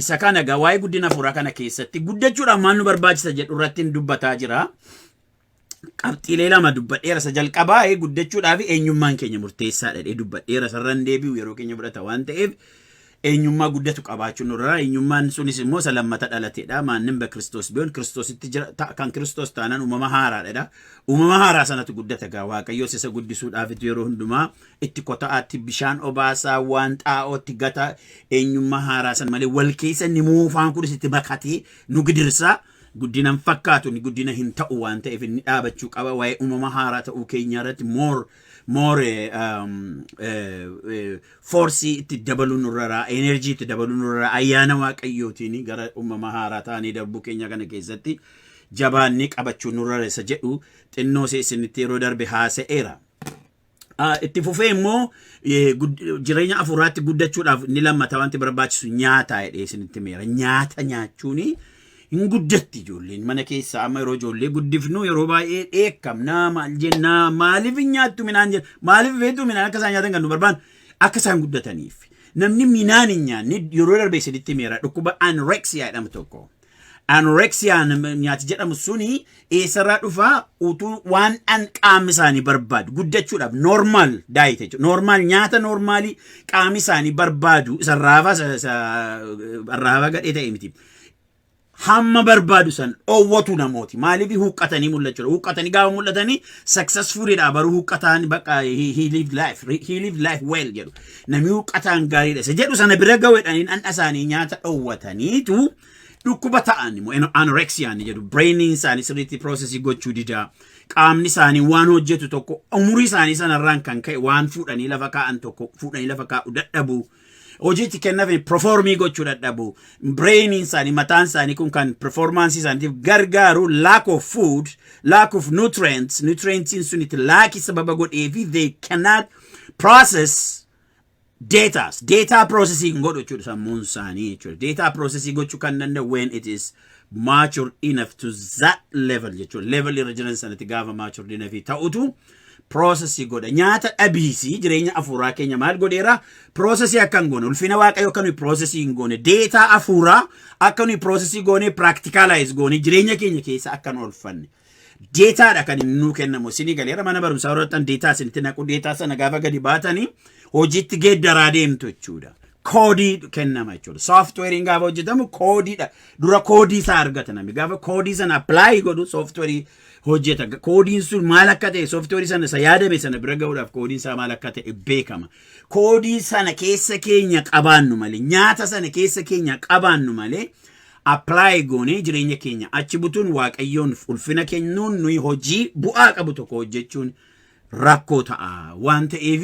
Isa kana egaa waa'ee guddina hafuuraa kana keessatti guddachuudhaaf maal nu barbaachisa jedhu irratti hin dubbataa jira. Qabxiilee lama dubbadheera isa jalqabaa ee guddachuudhaaf eenyummaan keenya murteessaadha jedhee dubbadheera isarra hin deebi'u yeroo keenya fudhata waan ta'eef eenyummaa guddatu qabaachuun nurraa eenyummaan sunis immoo isa lammata dhalateedha maannin be kiristoos biyoon kiristoositti jira ta- kan kiristoos taanaan uumama haaraadha uumama haaraa sanatu guddata egaa waaqayyoos isa guddisuudhaafitu yeroo hundumaa Itti kota'aatti bishaan obaasaa waan xaa'ootti gata eenyummaa haaraa san malee wal keessa inni moofaan kunis itti makatee nu gidirsaa guddina hin fakkaatu inni guddina hin ta'u waan ta'eef inni dhaabachuu qaba waa'ee uumama haaraa ta'uu keenyaa irratti moor moor foorsii itti dabaluu nurraraa enerjii itti dabaluu nurraraa ayyaana waaqayyootiin gara uumama haaraa taanee darbuu keenya kana keessatti jabaannee qabachuu nurrara isa jedhu xinnoo isinitti yeroo darbe haasa'eera. Itti fufee immoo jireenya hafuuraatti guddachuudhaaf inni lammata wanti barbaachisu nyaata jedhee isinitti meera. Nyaata nyaachuun hin guddatti ijoolleen mana keessaa amma yeroo ijoollee guddifnu yeroo baay'ee dheekkamnaa maal jennaa maaliif hin nyaattu minaan jenna maaliif beektu minaan akka isaan nyaatan kan nu barbaannu akka isaan guddataniif. Namni minaan hin nyaanne yeroo darbe isinitti meera dhukkuba anorexia jedhamu tokko. Anorexia nyaati jedhamu suni eessarraa dhufa utuu waan dhan qaamni isaanii barbaadu guddachuudhaaf normal diet jechuudha. Normal nyaata normaalii qaamni isaanii barbaadu isa raafaa isa- isa raafaa gadhee ta'e miti. Hamma barbaadu san dhoowwatu namooti. Maaliif huqqatanii mul'achuudha. Huqqatanii gaafa mul'atanii successfulidha baruu huqqataan bakka he, he lived life, he lived life well jedhu. Namni huqqataan gaariidha isa jedhu sana bira gawedhanii dhandha isaanii nyaata dhowwataniitu dhukkuba ta'an immoo eno- anorexia ni jedhu brainiin isaanii sirriitti processii gochuu didaa qaamni isaanii waan hojjetu tokko umurii isaanii sanarraan kan ka'e waan fuudhanii lafa kaa'an tokko fuudhanii lafa kaa'u dadhabu hojiitti kennafe performii gochuu dadhabu brainiin isaanii mataan isaanii kun kan performaansii isaaniitiif gargaaru lack of food lack of nutrients nutrientsiin sun itti laaki sababa godhee fi they cannot process datas data processing godhu jechuudha sammuun isaanii jechuudha data processing gochuu kan danda'u when it is mature enough to that level jechuudha level irra jiran sanatti gaafa mature enough ta'utu processing godha nyaata dhabiisi jireenya afuuraa keenya maal godheera processing akka hin goone ulfina waaqayyo akka nuyi processing hin goone data afuuraa akka nuyi processing goone practicalize goone jireenya keenya keessa akka nu olfanne deetaadha kan inni nuu kennamu isinii galeera mana barumsaa warrattan deetaa isinitti naqu deetaa sana gaafa gadi baatanii hojiitti geeddaraa deemtu jechuudha. Koodii kennama jechuudha. Sooftiweeriin gaafa hojjetamu koodiidha. Dura koodii isaa argata namni. Gaafa koodii sana appilaayi godhu sooftiweerii hojjeta. Koodiin sun maal akka ta'e sooftiweerii sana isa yaadame sana bira ga'uudhaaf koodiin isaa maal akka ta'e beekama. Koodii sana keessa keenya qabaannu malee nyaata sana keessa keenya qabaannu malee apply goonee jireenya keenya achi butuun waaqayyoon ulfina kennuun nuyi hojii bu'aa qabu tokko hojjechuun rakkoo ta'a waan ta'eef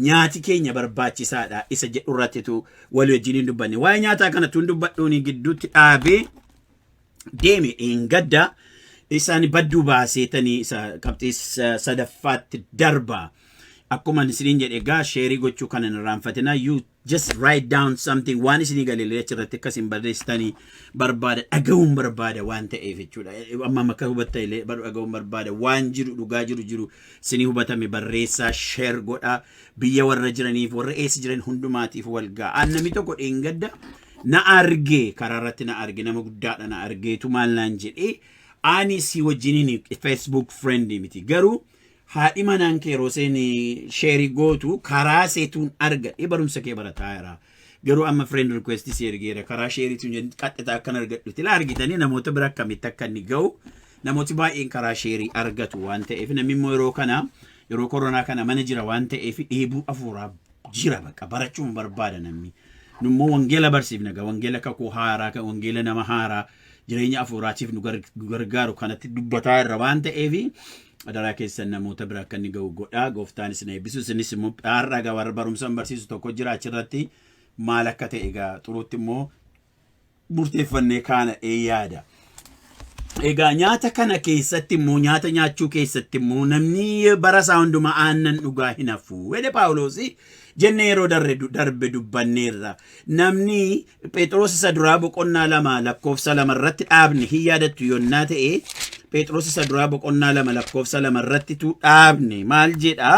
nyaati keenya barbaachisaadha isa jedhu irrattitu walii wajjin hin dubbanne waa'ee nyaataa kana tun dubbadhuun gidduutti dhaabee deeme dheengadda isaan badduu baaseetanii isa qabxii sa- sadaffaatti darba. Akkuma isiniin jedhe egaa sheerii gochuu kana hin irraanfatinaa Just write down something waan isinii gale illee achirratti akka isin barreessitani barbaada dhaga'uun barbaada waan ta'eef jechuudha. Amma amma akka hubatta illee baru dhaga'uun barbaada waan jiru dhugaa jiru jiru isinii hubatame barreessaa share godhaa biyya warra jiraniif warra eessa jiran hundumaatiif wal ga'a. Namni tokko dheengadda na arge karaa irratti na arge nama guddaadha na argeetu maal naan jedhee ani si wajjiniin Facebook friend miti garuu haadhi manaan kee yeroo isheen sheerii gootu karaa seetuun argadhe barumsa kee barataa jira. Garuu amma friend request si ergeera karaa sheeriitiin jedhu qaxxitaa akkan argadhu tila argitanii namoota bira akkamitti akka inni ga'u namooti baay'een karaa sheerii argatu waan ta'eef namni immoo yeroo kana yeroo koronaa kana mana jira waan ta'eef dheebuu afuuraa jira bakka barachuun barbaada namni. Nummoo wangeela barsiifna gaa wangeela kakuu haaraa kan wangeela nama haaraa jireenya afuuraatiif nu gargaaru kanatti dubbataa irra waan ta'eef adaraa keessan namoota bira akka inni ga'u godhaa gooftaan isin eebbisu isinis immoo har'a egaa warra barumsan barsiisu tokko jira achirratti maal akka ta'e egaa xuruutti immoo murteeffannee kaana ee yaada. Egaa nyaata kana keessatti immoo nyaata nyaachuu keessatti immoo namni bara isaa hundumaa aannan dhugaa hin hafu. Wede Paawuloos jennee yeroo darbe dubbanneerra. Namni Pheexiroos isa duraa boqonnaa lama lakkoofsa lama irratti dhaabne hin yaadattu yonnaa ta'e Pheexiroos isa duraa boqonnaa lama lakkoofsa lama irratti tu dhaabne maal jedha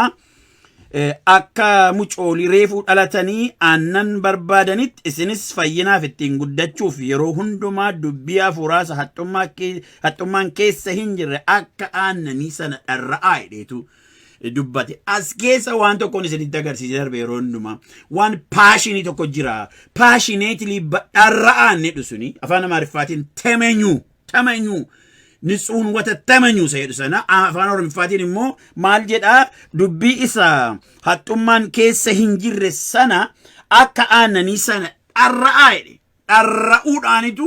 akka mucoolii reefuu dhalatanii aannan barbaadanitti isinis fayyinaaf ittiin guddachuuf yeroo hundumaa dubbii hafuuraasa haxxummaan keessa hin jirre akka aannanii sana dharra'aa hidheetu dubbate as keessa waan tokkoon isinitti agarsiisee darbe yeroo hundumaa waan paashinii tokko jira paashineetilii badhaarra'aan jedhu suni afaan amaariffaatiin temenyuu temenyuu nitsuun wata temenyuu isa jedhu sana afaan oromiffaatiin immoo maal jedha dubbii isa haxxummaan keessa hin jirre sana akka aannanii sana dharra'aa jedhe dharra'uudhaanitu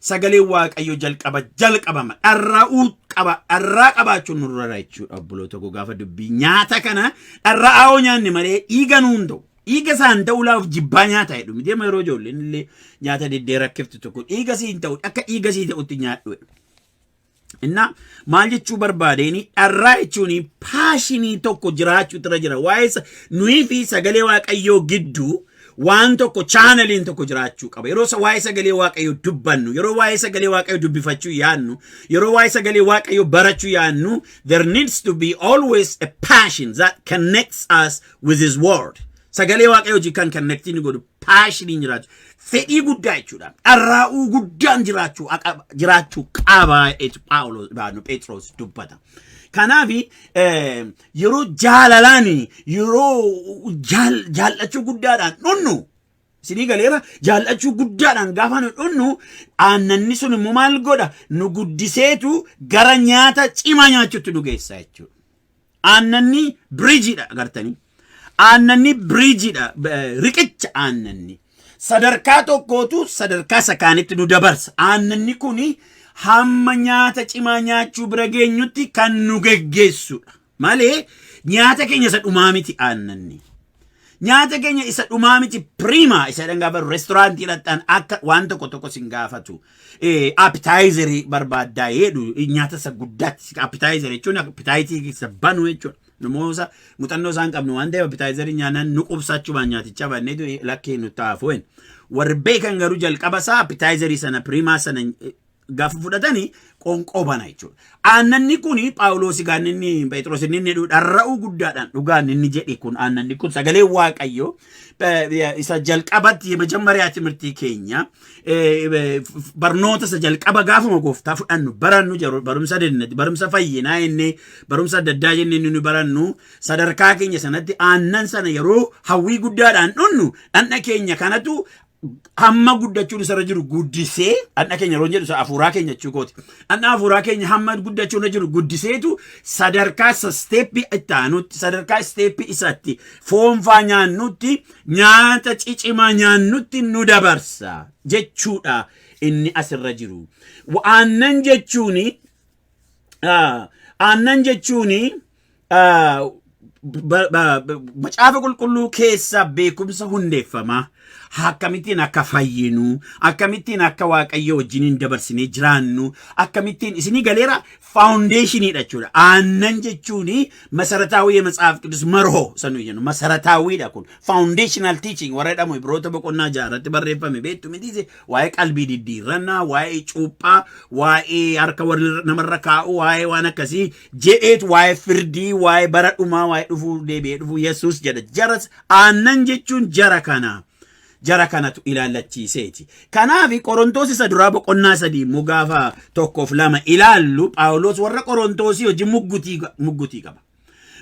sagalee waaqayyo jalqaba jalqabama dharra'uu qaba dharraa qabaachuun nurra jira jechuudha obboloota koo gaafa dubbii nyaata kana dharra'aa yoo nyaanne malee dhiiga nuun ta'u dhiiga isaan ta'uu laaf jibbaa nyaata jedhu miti amma yeroo ijoolleen illee nyaata diddee rakkiftu tokko dhiiga siin ta'u akka dhiiga sii ta'utti nyaadhu jedhu. Innaa maal jechuu barbaadeen dharraa jechuun paashinii tokko jiraachuu irra jira. Waa'ee sa- nuyi fi sagalee waaqayyoo gidduu waan tokko chaanaliin tokko jiraachuu qaba. Yeroo sa- waa'ee sagalee waaqayyoo dubbannu, yeroo waa'ee sagalee waaqayyoo dubbifachuu yaadnu, yeroo waa'ee sagalee waaqayyoo barachuu yaadnu, there needs to be always a passion that connects us with his word. Sagalee waaqayyoo wajjin kan connectii nu godhu paashiniin jiraachuu fedhii guddaa jechuudha. Dharraa'uu guddaan jiraachuu aqaba- jiraachuu qaba jechu Phaawulos baanu Phexros dubbata. Kanaaf eh, yeroo jaalalaan yeroo jaal- jaallachuu guddaadhaan dhunnu isinii galeera jaallachuu guddaadhaan gaafa nu dhunnu aannanni sun immoo maal godha nu guddiseetu gara nyaata cimaa nyaachuutti nu geessa jechuudha. Aannanni biriijiidha agartanii. Aannanni biriijiidha riqicha aannanni. Sadarkaa tokkootu sadarkaa sakaanitti nu dabarsa. Aannanni kun hamma nyaata cimaa nyaachuu bira geenyutti kan nu geggeessudha. Malee nyaata keenya isa dhumaa miti aannanni. Nyaata keenya isa dhumaa miti piriimaa isa jedhan gaafa restoraantii dhaqxan akka waan tokko tokko sin gaafatu. Appitaayizerii barbaaddaa jedhu nyaata isa guddaatti appitaayizerii jechuun appitaayitii isa banu jechuudha. Namoota muuxannoo isaan qabnu waan ta'eef appitaayizerii nyaanaan nu qubsaachumaan nyaaticha banneetu lakkee nu taafuen. Warri beekan garuu jalqaba isaa appitaayizerii sana piriimaa sana gaafa fudhatanii qoonqoo bana jechuudha. Aannanni kun Phaawuloos egaa inni Pheexiroos inni inni dharra'uu guddaadhaan dhugaan inni jedhe kun aannanni kun sagalee Waaqayyoo isa jalqabatti mejammaria timirtii keenya barnoota isa jalqaba gaafuma gooftaa fudhannu barannu jedhu barumsa dennati barumsa fayyinaa inni barumsa adda addaa jennee inni barannu sadarkaa keenya sanatti aannan sana yeroo hawwii guddaadhaan dhunnu dhandha keenya kanatu hamma guddachuun isarra jiru guddisee dhandha keenya yeroo jedhu hafuuraa keenya jechuu kooti. Dhandha hafuuraa keenya hamma guddachuun irra jiru guddiseetu sadarkaa isa isteeppii itti aanutti sadarkaa isteeppii isatti foonfaa nyaannutti nyaata cicimaa nyaannutti nu dabarsa jechuudha inni asirra jiru. Aannan jechuuni aannan jechuuni Macaafa qulqulluu keessaa beekumsa hundeeffamaa akkamittiin akka fayyinu akkamittiin akka waaqayyo wajjiniin dabarsinee jiraannu akkamittiin isinii galeera faawundeeshiniidha jechuudha. Aannan jechuun masarataawwii yematsaaf qidus marhoo sanuu jennu masarataawwiidha kun faawundeeshinaal tiiching warra jedhamu ibroota boqonnaa ja'a irratti barreeffame beektu mitiise waa'ee qalbii diddiirrannaa waa'ee cuuphaa waa'ee harka warra namarra kaa'u waa'ee waan akkasii jedheet waa'ee firdii waa'ee bara dhumaa waa'ee dhufuu deebi'ee dhufuu yesus jedha jara aannan jechuun jara kana jara kanatu ilaallachiiseeti kanaaf qorontoos isa duraa boqonnaa sadii immoo gaafa tokkoof lama ilaallu phaawulos warra qorontoosii hojii muggutii muggutii qaba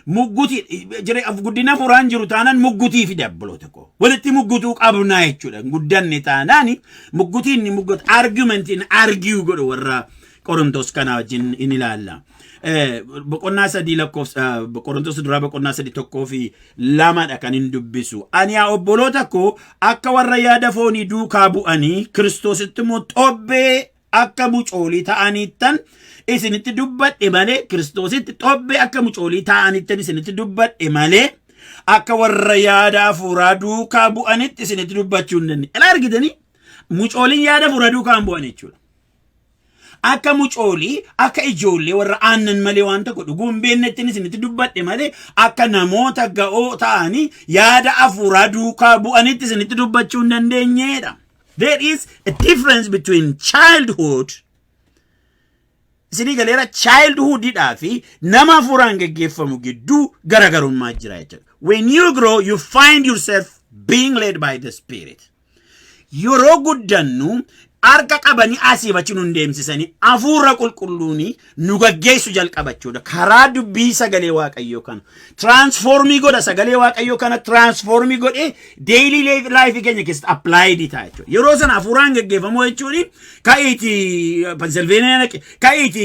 muggutii jire guddina furaan jiru taanaan muggutii fi dabbaloota koo walitti muggutuu qabnaa jechuudha guddanne taanaan muggutiin ni muggutu argumentiin argiu godhu warra Qorontos kanaa wajjin in ilaalla. Eh, Boqonnaa sadii lakkoofsa eh, Qorontos duraa boqonnaa sadii tokkoo fi lamadha kan hin dubbisu. Ani yaa obboloota koo akka warra yaada foonii duukaa bu'anii Kiristoositti immoo xobbee akka mucoolii ta'aniittan isinitti dubbadhe malee Kiristoositti xobbee akka mucoolii ta'aniittan isinitti dubbadhe malee akka warra yaada hafuuraa duukaa bu'anitti isinitti dubbachuu hin dandeenye. Ilaa argitanii mucooliin yaada hafuuraa duukaa hin bu'an jechuudha. Akka mucoolii, akka ijoollee warra aannan malee waan tokko dhuguu hin beeknettiin isinitti dubbadhe malee akka namoota ga'oo ta'anii yaada hafuuraa duukaa bu'anitti isinitti dubbachuu hin dandeenyeedha. There is a difference between childhood isinii galeera childhood dhaa fi nama hafuuraan geggeeffamu gidduu garaagarummaa jira jechuudha. When you grow you find yourself being led by the spirit. Yeroo guddannu harka qabanii asiif achi nun deemsisanii hafuura qulqulluuni nu gaggeessu jalqaba jechuudha. Karaa dubbii sagalee waaqayyoo kana. Tiraansfoormii godha sagalee waaqayyoo kana tiraansfoormii godhee deeyilii laayifii keenya keessatti appilaayidii ta'a jechuudha. Yeroo sana hafuuraan gaggeeffamuu jechuun ka'iiti Pensilveeniyaa dhaqi, ka'iiti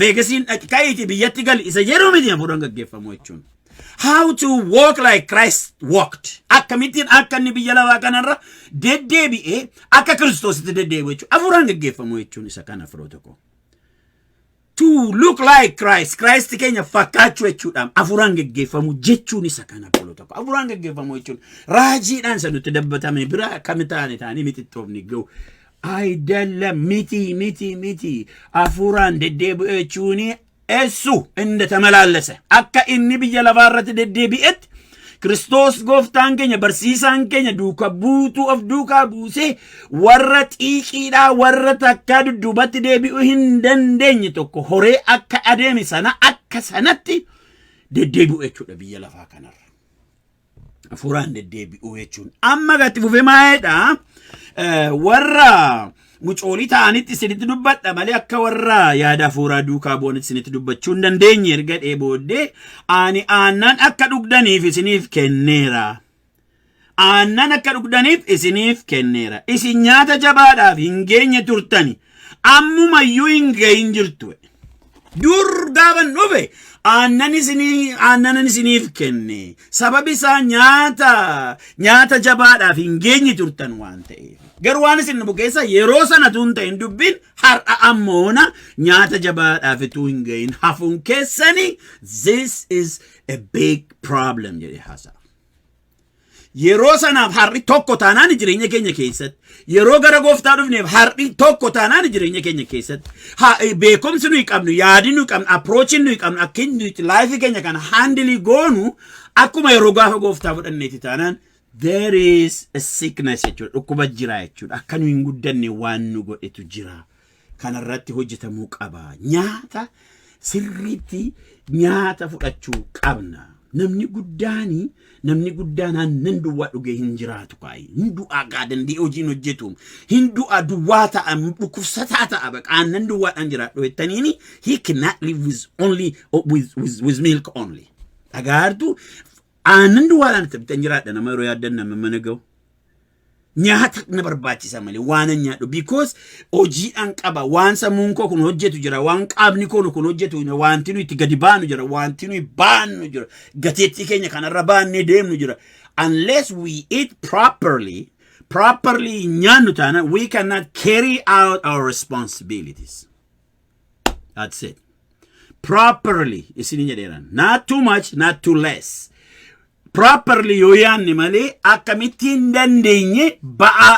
Veegasiin dhaqi, ka'iiti biyyatti gali isa jedhu miti hafuuraan gaggeeffamuu jechuun. How to walk like Christ walked. Akkamittiin akka inni biyya lafaa kanarra deddeebi'ee akka Kiristoositti deddeebi'u jechuudha. Afuuraan gaggeeffamu jechuun isa kana firoo tokko. To look like Christ. Christ keenya fakkaachuu jechuudha. Afuuraan gaggeeffamu jechuun isa kana firoo tokko. Afuuraan gaggeeffamu jechuun raajiidhaan isa nutti dabbatame bira akkami taane taanee mixixxoofni ga'u. Ayidalam miti miti miti afuuraan deddeebi'u jechuun eessu inni tamalaallese akka inni biyya lafaa irratti deddeebi'etti Kiristoos gooftaan keenya barsiisaan keenya duuka buutuu of duukaa buusee warra xiiqiidhaa warra takkaa dudduubatti deebi'uu hin dandeenye tokko horee akka adeeme sana akka sanatti deddeebi'u jechuudha biyya lafaa kanarra. hafuuraan deddeebi'uu jechuun. Amma gatti fufee maa'eedha. Warra mucoolii ta'anitti isinitti dubbadha malee akka warra yaada hafuuraa duukaa bu'anitti isinitti dubbachuu hin dandeenye erga dhee booddee ani aannan akka dhugdaniif isiniif kenneera. Aannan akka dhugdaniif isiniif kenneera. Isin nyaata jabaadhaaf hin geenye turtani. Ammumayyuu hin gahin jirtu. Dur gaaban dhufe aannan isinii aannanan isiniif kenne sababi isaa nyaata nyaata jabaadhaaf hin geenye turtan waan ta'eef. Garuu waan isin dhufu keessa yeroo sana tuun ta'in dubbiin har'a ammoona nyaata jabaadhaaf ituu hin ga'in hafuun keessani this is a big problem jedhee haasa'a. Yeroo sanaaf har'i tokko taanaan jireenya keenya keessatti yeroo gara gooftaa dhufneef har'i tokko taanaan jireenya keenya keessatti ha- eh, beekumsi nuyi qabnu yaadi nuyi qabnu approachiin nuyi qabnu akkin nuti laayifii keenya kana handilii goonu akkuma yeroo gaafa gooftaa fudhanneeti taanaan there is a sickness jechuudha dhukkuba jira jechuudha akka nu hin guddanne waan nu godhetu jira kana irratti hojjetamuu qaba. Nyaata sirriitti nyaata fudhachuu qabna. Namni guddaan namni guddaan aannan duwwaa dhugee hin jiraatu kaayi. Hin du'aa gaa danda'ee hojiin hojjetu. Hin du'aa duwwaa ta'a dhukkubsataa ta'a baqa aannan duwwaadhaan jiraadhu jettaniini he cannot live with only with, with, with milk only. Dhagaartu aannan duwwaadhaan itti bitan jiraadha nama yeroo yaaddan nama mana ga'u. Nyaata na barbaachisa malee waan an nyaadhu because hojiidhaan qaba waan sammuun koo kun hojjetu jira waan qaamni koo kun hojjetu jira wanti nu itti gadi baanu jira wanti nu baannu jira gateettii keenya kanarra baannee deemnu jira unless we eat properly properly nyaannu taana we cannot carry out our responsibilities that's it properly isin jedheeran not too much not too less properly yoo yaanne malee akkamitti hin dandeenye ba'aa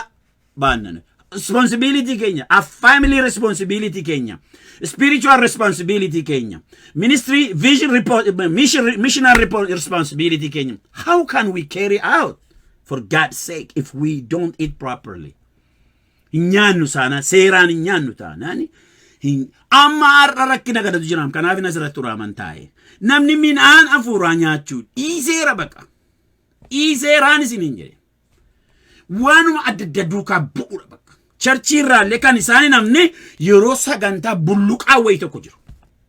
baannana. Responsibility keenya, a family responsibility keenya, spiritual responsibility keenya, ministry vision report, mission, missional report responsibility keenya. How can we carry out for God's sake if we don't eat properly? hin nyaannu saanaan seeraan hin nyaannu taanaan hin amma har'a rakkina kanatu jiraam kanaaf hin asirratti uraaman taa'e namni midhaan afuuraa nyaachuu dhiiseera baqa dhiiseeraan isin hin jedhe waanuma adda adda duukaa bu'uudha bakka charchii irraallee kan isaan hin hafne yeroo sagantaa bulluqaa wayii tokko jiru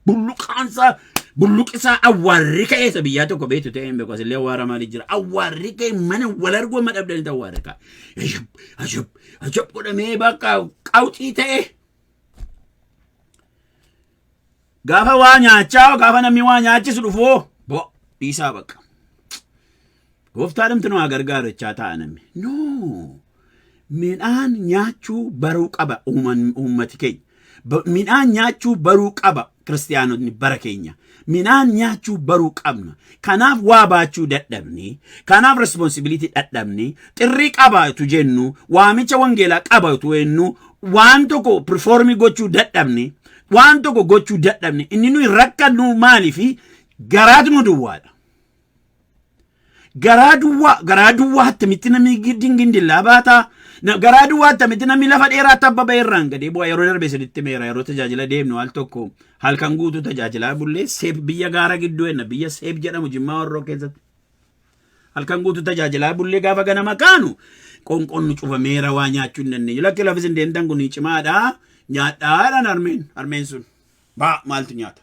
Bulluqaansaa bulluqisaa awwaarri ka'ee isa biyyaa tokko beektu ta'ee hin beeku asillee awwaara maali jira awwaarri ka'ee mana wal arguu amma dhabdanitti awwaarri ka'a. Ajab ajab ajab godhamee bakka qawxii ta'ee. Gaafa waa nyaachaa gaafa namni waa nyaachisu dhufoo bo dhiisaa bakka. Gooftaadhamti nu haa gargaaru jechaa taa'a namni. No! Midhaan nyaachuu baruu qaba uuman- uummati keenya. Ba- Midhaan nyaachuu baruu qaba kiristiyaanotni bara keenya. Midhaan nyaachuu baruu qabna. Kanaaf waa baachuu dadhabne. Kanaaf responsibility dadhabne. Xirrii qaba utuu jennu, waamicha wangeelaa qaba utuu jennu, waan tokko performii gochuu dadhabne, waan tokko gochuu dadhabne. Inni nuyi rakkannu maaliifi garaatu nu duwwaadha. garaa duwwaa garaa duwwaa attamitti namni giddiin gindillaa baataa na- garaa duwwaa attamitti namni lafa dheeraatti abba ba'e irraan gadee bu'aa yeroo darbe isinitti meera yeroo tajaajila deemnu al tokko halkan guutuu tajaajilaa bullee seep biyya gaara gidduu enna biyya seep jedhamu jimmaa warroo keessatti halkan guutuu tajaajilaa bullee gaafa ganama kaanu qonqoon nu cufameera waa nyaachuu hin dandeenye lakki lafis hin deemtan kun cimaadha nyaadhaadhaan harmeen harmeen sun baa maaltu nyaata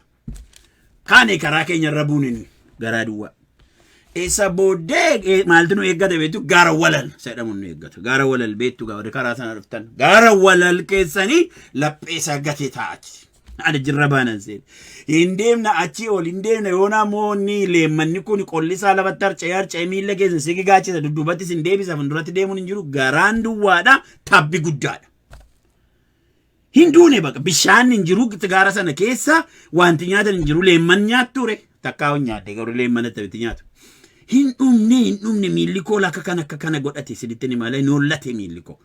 Kaane karaa keenya irra buune nuyi garaa duwwaa. Isa booddee maaltu nu eeggata beektu gaara walal jedhamu nu eeggata. Gaara walal beektu gaara karaa sana dhuftan. Gaara walal keessanii lapheessa gatee taa'ati. Ani jirra baanan seene. Hin deemna achii ol hin deemna yoona moo ni leemmanni kun qolli isaa lafatti harca'ee harca'ee miilla keessa si gigaachisa dudduubatti sin deebisa fuulduratti deemuun hin jiru garaan duwwaadha tabbi guddaadha. Hin duune baqa bishaan hin jiru gaara sana keessa wanti nyaatan hin jiru leemman nyaattu re takkaa hin nyaadde garuu leemman attamitti nyaatu. Hin dhumne hin dhumne miilli koo akka kana akka kana godhate isinitti ni malee hin hollate miilli koo.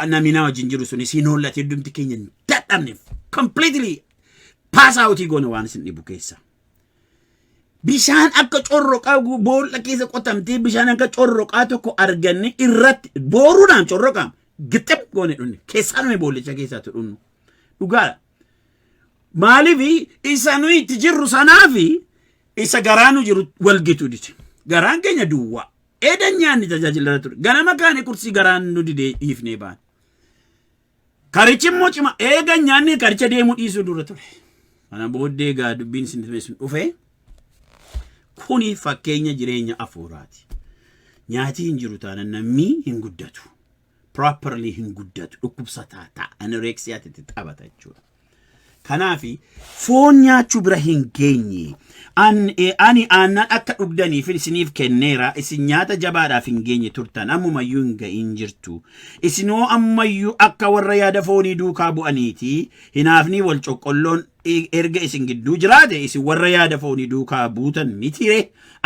Namni na wajjin jiru sunis hin hollate hundumti keenya hin dadhabne completely pass out goone waan isin dhibu keessa. Bishaan akka corroqaa gu- boolla keessa qotamtee bishaan akka corroqaa tokko arganne irratti booruudhaan corroqaam gixxim goone dhunne keessaa nuyi boollicha keessaatu dhunnu dhugaadha. Maaliif isa nuyi itti jirru sanaafi isa garaa nu jiru wal gitu dide. Garaan keenya duwwaa. Eedan nyaanni tajaajila irra ture. Ganama kaane kursii garaan nu didee dhiifnee baane. Karichi immoo cima eegan nyaanni karicha deemuu dhiisuu dura ture. Kana booddee egaa dubbiin isin dhiyeessun dhufe. Kuni fakkeenya jireenya afuuraati. Nyaati hin jiru taanan namni hin guddatu. Properly hin guddatu. Dhukkubsataa ta'a. Anoreksiyaatti itti taphata jechuudha. Kanaaf foon nyaachuu bira hin geenye. An- eh, Ani aannan akka dhugdaniif isiniif kenneera. Isin nyaata jabaadhaaf hin geenye turtan. Ammumayyuu hin ga'iin jirtu. Isinoo ammayyuu akka warra yaada foonii duukaa bu'aniiti. Hinaafnii wal coqqolloon erga isin gidduu jiraate isin warra yaada foonii duukaa buutan mitiire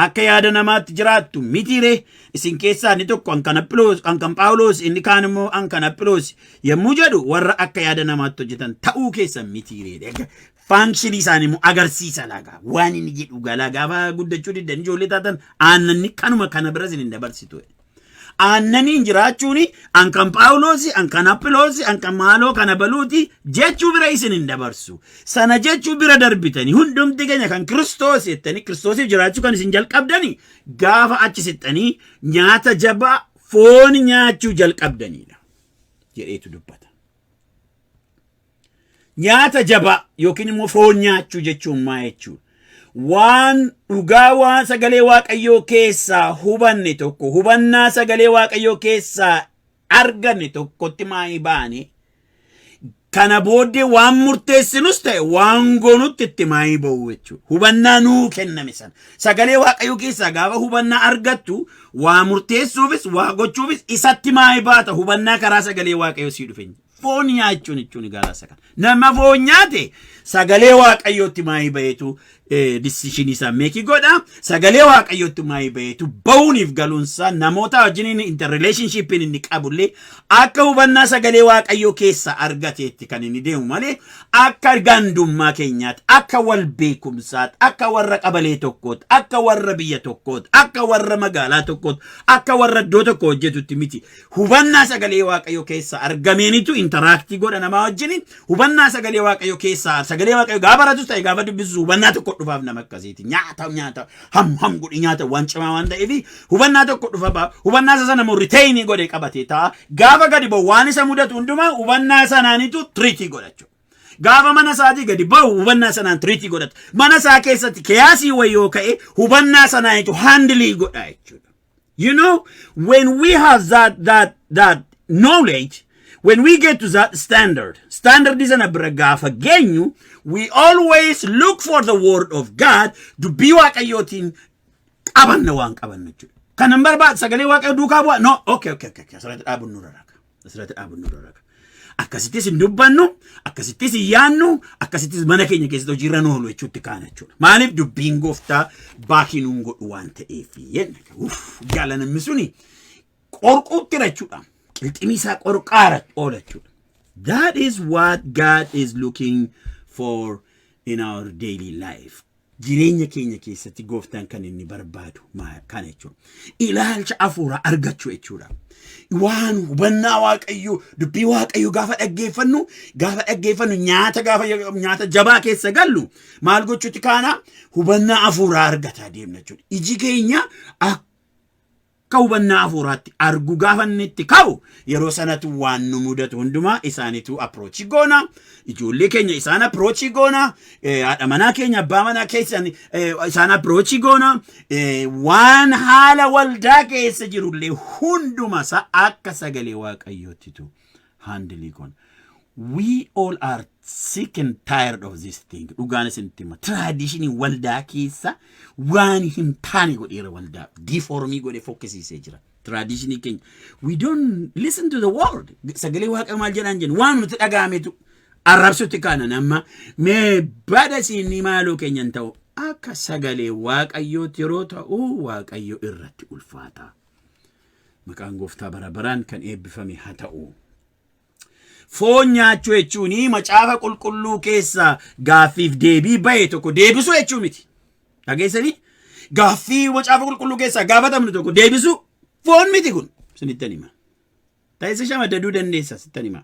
akka yaada namaatti jiraattu mitiire isin keessaa inni tokko an kan Aphiloos an kan Phaawuloos inni kaan immoo an kan Aphiloos yommuu jedhu warra akka yaada namaatti hojjetan ta'uu keessan mitiire faankshini isaanii immoo agarsiisa laga waan inni jedhu galaa gaafa guddachuu diddan ijoollee taatan aannanni kanuma kana bira isin hin dabarsitu. Aannaniin jiraachuun an kan Phaawuloosi, an kan Aphiloosi, an kan maaloo kana baluuti jechuu bira isin hin dabarsu. Sana jechuu bira darbitanii hundumti keenya kan Kiristoos jettanii Kiristoosiif jiraachuu kan isin jalqabdanii gaafa achi siqxanii nyaata jabaa foon nyaachuu jalqabdaniidha. Jedheetu dubbata. Nyaata jabaa yookiin immoo foon nyaachuu jechuun maa jechuudha? Waan dhugaa waan sagalee Waaqayyoo keessaa hubanne tokko hubannaa sagalee Waaqayyoo keessaa arganne tokkotti maa hin baane? Kana booddee waan murteessinus ta'e waan goonutti itti maa hin ba'u jechuudha. Hubannaa nuu kenname sana. Sagalee Waaqayyoo keessaa gaafa hubannaa argattu waa murteessuufis waa gochuufis isatti maa hin baata hubannaa karaa sagalee Waaqayyoo sii dhufe. Foon nyaachuun jechuun egaa laasa kana. Nama foon nyaate sagalee waaqayyootti maayii baheetu disishinii isaa meekii godha. Sagalee waaqayyootti maayii baheetu ba'uuniif galuunsaa namoota wajjin interrelationshippiin inni qabullee akka hubannaa sagalee waaqayyoo keessa argateetti kan inni deemu malee akka gandummaa keenyaatti akka wal beekumsaatti akka warra qabalee tokkootti akka warra biyya tokkootti akka warra magaalaa tokkootti akka warra iddoo tokko hojjetutti miti. Hubannaa sagalee waaqayyo keessa argameenitu intaraaktii godha namaa wajjin hubannaa sagalee waaqayyo keessa sagalee waaqayyo gaafa baratus ta'e gaafa dubbisus hubannaa tokko dhufaaf nama akkasiiti nyaata nyaata ham ham godhi nyaata waan cimaa waan ta'eef hubannaa tokko dhufa ba'a hubannaa isa sana immoo riteeyinii godhe qabatee ta'a gaafa gadi ba'u waan isa mudatu hundumaa hubannaa sanaanitu tiriitii godhachu gaafa mana isaatii gadi ba'u hubannaa sanaan tiriitii godhata mana isaa keessatti kiyaasii wayii yoo ka'e hubannaa sanaanitu haandilii godha jechuudha. You know, when we have that that that knowledge, when we get to that standard, standard is an abragafa genu, we always look for the word of God to be wakayotin qabanna waan qabanna jechuudha. Kan hin barbaad sagalee waaqayyo duukaa bu'a. No, okay, okay, okay, okay. Asirratti dhaabuun nurra raaka. Asirratti dhaabunnu irra raga. Akkasittis hin dubbannu, akkasittis hin yaannu, akkasittis mana keenya keessatti hojiirra nu oolu jechuutti kaana jechuudha. Maaliif dubbiin gooftaa baakii nuun godhu waan ta'eef jenna. Uff, Gaalanamni suni qorquutti jechuudha. Qilximii isaa qorqaara oola jechuudha. That is what God is looking for in our daily life. Jireenya keenya keessatti gooftaan kan inni barbaadu maa- kana jechuudha. Ilaalcha hafuuraa argachuu jechuudha. Waan hubannaa waaqayyoo, dubbii waaqayyoo gaafa dhaggeeffannu, gaafa dhaggeeffannu nyaata gaafa nyaata jabaa keessa gallu maal gochuutti kaana hubannaa hafuuraa argataa deemna jechuudha. Iji keenya akka Akka hubannaa hafuuraatti argu gaafa inni itti ka'u yeroo sanatu waan nu mudatu hundumaa isaanitu approach goona ijoollee keenya isaan approach goona eh, haadha manaa keenya abbaa manaa keessan eh, isaan approach goona eh, waan haala waldaa keessa jirullee hunduma isaa akka sagalee waaqayyootitu handle kun we all are sick and tired of this thing dhugaan isinitti hima traditionii waldaa keessa waan hin taane godheera waldaa diifoormii godhe fokkisiisee jira traditionii keenya we don't listen to the world sagalee waaqa maal jedhaan jennu waan nuti dhaga'ametu arrabsutti kaanan amma mee bada siinni maaloo keenya hin ta'u akka sagalee waaqayyootti yeroo ta'u waaqayyo irratti ulfaata. Maqaan gooftaa bara baraan kan eebbifame haa ta'u. Foon nyaachuu jechuun macaafa qulqulluu keessa gaaffiif deebii ba'e tokko deebisuu jechuu miti. Dhageessanii gaaffii macaafa qulqulluu keessaa gaafatamnu tokko deebisuu foon miti kun sinitti hima. Ta'eessa shamadaduu dandeessa sittan hima.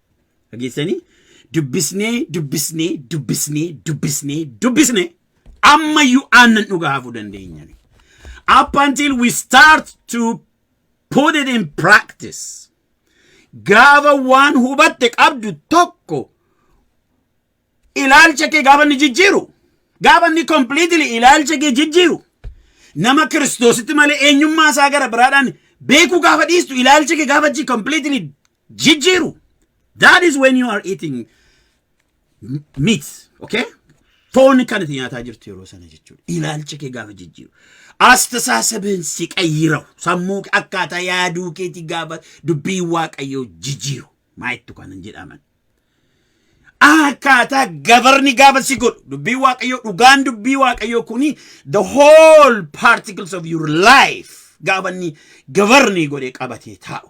Dhageessanii dubbisnee dubbisnee dubbisnee dubbisnee dubbisnee ammayyuu aannan dhugaa hafuu dandeenya. Up until we start to put it in practice. Gaafa waan hubatte qabdu tokko ilaalcha kee gaafa inni jijjiiru gaafa inni completely ilaalcha kee jijjiiru nama kiristoositti malee eenyummaa isaa gara biraadhaan beekuu gaafa dhiistu ilaalcha kee gaafa jii completely jijjiiru. That is when you are eating meat, okay? Foon kan itti nyaataa jirtu yeroo sana jechuudha. Ilaalcha kee gaafa jijjiiru. Astasaasabeen si qayyirawu. Sammuu kee akkaataa yaaduu keetii gaafa dubbii waaqayyoo jijjiiru. Maayittu kanan jedhaman. Akkaataa gabarni gaafa si godhu. Dubbii waaqayyoo dhugaan dubbii waaqayyoo kuni the whole particles of your life gaafa inni gabarni godhee qabatee taa'u.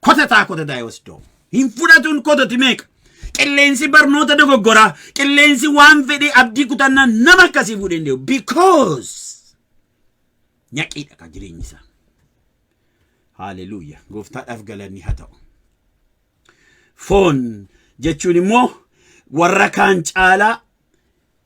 kotataa kotataa yoo si doomu. Hin fudhatuun kototi meeqa? Qilleensi barnoota dogoggoraa, qilleensi waan fedhee abdii kutannaa nama akkasii fuudhee hin deemu. Because nyaqiidha ka jireenyi isaa. Haaleluyyaa. Gooftaadhaaf galanni haa ta'u. Foon jechuun immoo warra kaan caalaa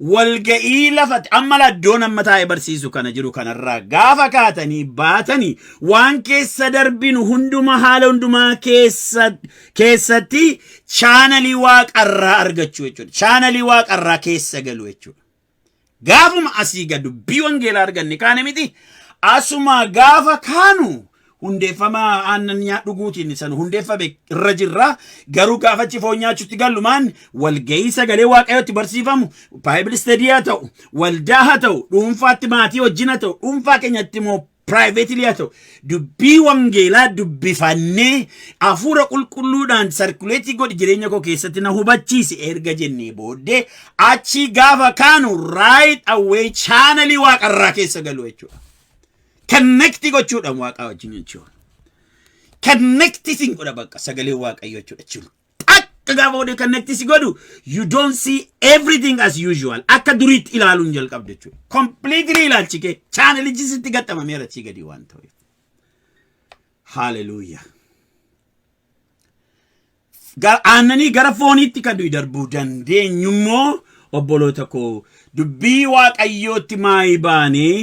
walga'ii lafati amma laddoon amma taa'ee barsiisu kana jiru kanarraa gaafa kaatanii baatanii waan keessa darbinu hunduma haala hundumaa keessa keessatti chaanalii waaqarraa argachuu jechuudha. Chaanalii waaqarraa keessa galu jechuudha. Gaafuma asii gad dubbii wangeelaa arganne kaane miti asuma gaafa kaanu hundeeffama aannan nyaa dhuguutiin isa nu hundeeffame irra jirra. Garuu gaafa achi foon nyaachuutti gallumaan walgahii sagalee waaqayyootti barsiifamu baayibili istadii haa ta'u waldaa haa ta'u dhuunfaatti maatii wajjin haa ta'u dhuunfaa keenyatti immoo piraayiveetilii haa ta'u dubbii wangeelaa dubbifannee hafuura qulqulluudhaan sarkuleetii godhi jireenya koo keessatti na hubachiisi erga jennee booddee achii gaafa kaanu raayit awwee chaanalii waaqarraa keessa galu jechuudha. Konnektii gochuudhaan waaqaa wajjin jechuudha. Konnektii siin godha bakka sagalee waaqayyoo jechuudha jechuudha. Akka gaafa oduu konnektii si godhu you don't see everything as usual akka duriitti ilaaluun jalqabde jechuudha. Completely ilaalchi kee chaanalichi sitti gaxxamameera sii gadi waan ta'eef. Hallelujah. Ga- aannanii gara fooniitti kan nuyi darbuu dandeenyu immoo obboloota koo dubbii waaqayyootti maayii baanee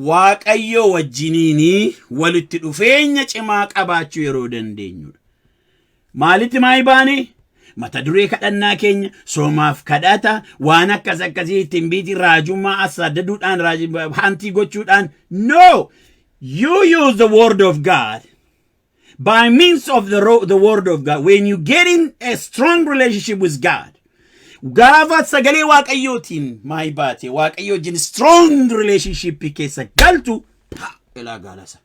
waaqayyoo wajjiniinii walitti dhufeenya cimaa qabaachuu yeroo dandeenyudha. Maalitti maayii baanee? Mata duree kadhannaa keenya soomaaf kadhata waan akkas akkasii ittiin biitii raajummaa assaaddaduudhaan raaj- haantii gochuudhaan no you use the word of God by means of the, ro- the word of God. When you get in a strong relationship with God, gaafa sagalee waaqayyootiin maayii baate waaqayyoo wajjin strong relationship keessa galtu pa ilaa gaalasa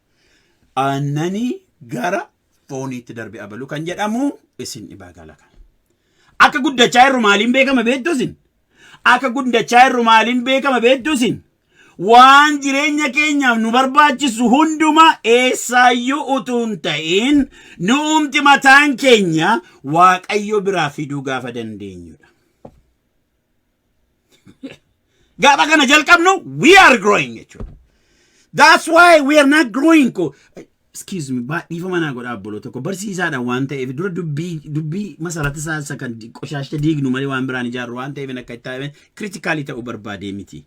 aannanii gara fooniitti darbe abaluu kan jedhamu isin dhibaa gaala kan akka guddachaa irru maaliin beekama beektu isin akka guddachaa irru maaliin beekama beektu isin Waan jireenya keenyaaf nu barbaachisu hundumaa eessaayyuu utuu hin ta'in nu'umti mataan keenya Waaqayyo biraa fiduu gaafa dandeenyudha. Gaafa kana jalqabnu we are growing jechuudha. That's why we are not growing. Excuse me, baa- dhiifama naa godhaa obboloota koo. Barsiisaadha waan ta'eef dura dubbii dubbii masarata isaa isa kan di- qoshaashta diignu malee waan biraan ijaarru waan ta'eef akka itti taa'e kritikaalii ta'uu barbaadee miti.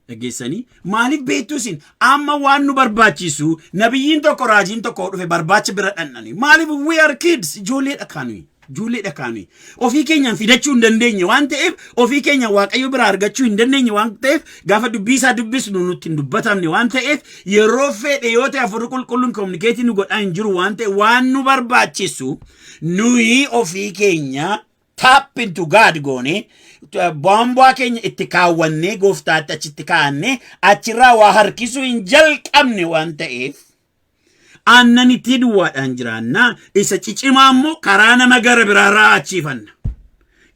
Dhaggeessanii maaliif beektu isin amma waan nu barbaachisu nabiyyiin tokko raajiin tokko dhufe barbaacha bira dhandhani maaliif we are kids ijoolleedha kaanuyi. Ijoollee dhakaa nuyi ofii keenyaan fidachuu hin dandeenye waan ta'eef ofii keenyaan waaqayyo biraa argachuu hin dandeenye waan ta'eef gaafa dubbii isaa dubbisnu nutti hin dubbatamne waan ta'eef yeroo fedhe yoo ta'e afurri qulqulluun kominikeetii nu godhaa hin jiru waan ta'e waan nu barbaachisu nuyi ofii keenya tap into God goone boombaa keenya itti kaawwannee gooftaatti achitti kaa'annee achirraa waa harkisuu hin jalqabne waan ta'eef Aannanittii duwwaadhaan jiraannaa isa cicimaa immoo karaa nama gara biraa ra'aachiifanna.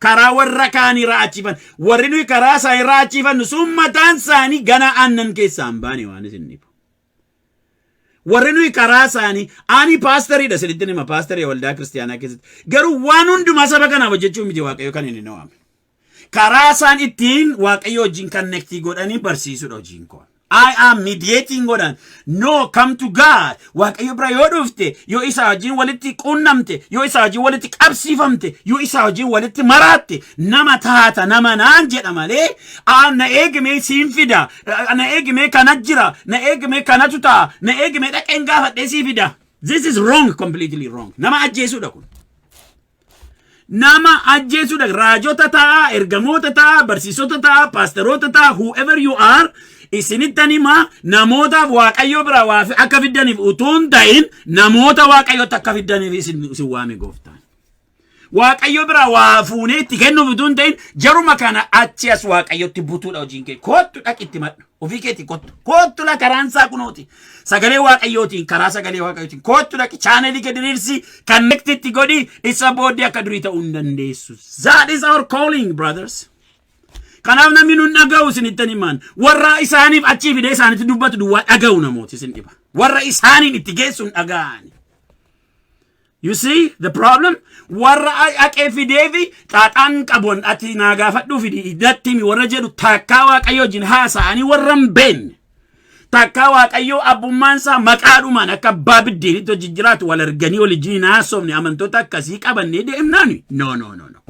Karaa warra kaanii ra'aachiifanna. Warri nuyi karaa isaanii ra'aachiifannu sun mataan isaanii gana aannan keessaa hin baane waan isin dhibu. Warri nuyi karaa isaanii ani paastariidha isinitti hima paastarii waldaa kiristaanaa keessatti garuu waan hundumaa saba kanaaf hojjechuu miti waaqayyo kan inni na waame. Karaa isaan ittiin Waaqayyo wajjin connectii godhanii barsiisudha hojiin koon. I am mediating godhan. No, come to God. Waaqayyo bira yoo dhufte, yoo isaa wajjin walitti quunnamte, yoo isaa wajjin walitti qabsiifamte, yoo isaa wajjin walitti maraatte, nama taata, nama naan jedha malee, "Aa, na eegimee siin fida, "Aa, na eegimee kana jira, na eegimee kanatu ta'a, na eegimee dhaqeen gaafadhee sii fida. This is wrong, completely wrong. Nama ajjeesudha kun. Nama ajjeesuudha. Raajota ta'a, ergamoota ta'a, barsiisota ta'a, paasteroota ta'a, whoever you are, isinittan hima namootaaf waaqayyoo biraa waa fi- akka fiddaniif utuu hin ta'in namoota waaqayyootti akka fiddaniif isin isin waame gooftaan. Waaqayyo biraa waa fuunee itti kennuuf utuu hin ta'in jaruma kana achi as waaqayyotti butuudha hojiin kee. Koottu dhaqitti madhu. Ofii keetii kottu. Koottu la karaan isaa kunooti. Sagalee waaqayyootiin karaa sagalee waaqayyootiin koottu dhaqi chaanelii gadi diriirsi connect itti godhi isa booddee akka durii ta'uu hin dandeessu. That is our calling brothers. Kanaaf namni nun dhaga'u isinittan himaan warra isaaniif achii fidee isaanitti dubbatu duwwaa dhaga'u namooti isin dhiba. Warra isaaniin itti geessuun dhaga'ani. You see the problem? Warra haqee fidee fi xaaxaan qabu ati naa gaafadhuu fidi iddatti himi warra jedhu takkaa waaqayyoo wajjin haasa'anii warra hin beekne. Takkaa waaqayyoo abbummaan isaa maqaadhumaan akka abbaa biddeenitti hojii jiraatu wal arganii wal ijjiin haasofne amantoota akkasii qabannee deemnaani. No no no no.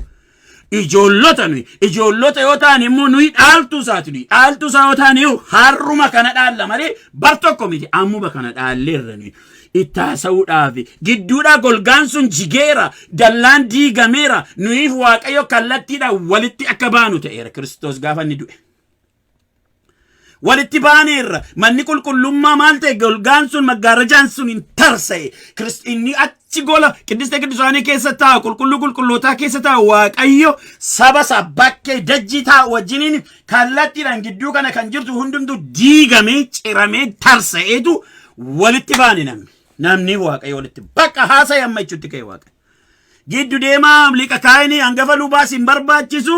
Ijoollota nuyi. Ijoollota yoo taane immoo nuyi dhaaltuu isaati nuyi. Dhaaltuu isaa yoo taane iyyuu harruma kana dhaalla malee bar tokko miti ammuma kana dhaalleerra nuyi. Itti haasa'uudhaaf gidduudhaa golgaan sun jigeera dallaan diigameera nuyiif waaqayyo kallattiidhaan walitti akka baanu ta'eera Kiristoos gaafa inni du'e. walitti baaneerra manni qulqullummaa maal ta'e golgaan sun maggaarajaan sun hin tarsa'e Kirist- inni achi gola qiddiste qiddusaanii keessa taa'u qulqulluu qulqullootaa keessa taa'u waaqayyo saba isaa bakkee dajjii taa'u wajjiniin kallattiidhaan gidduu kana kan jirtu hundumtuu diigamee ciramee tarsa'eetu walitti baane namni namni waaqayyo walitti bakka haasa'e amma jechuutti ka'e waaqayyo. Giddu deemaa liqa kaayinii hangafa lubaas hin barbaachisu,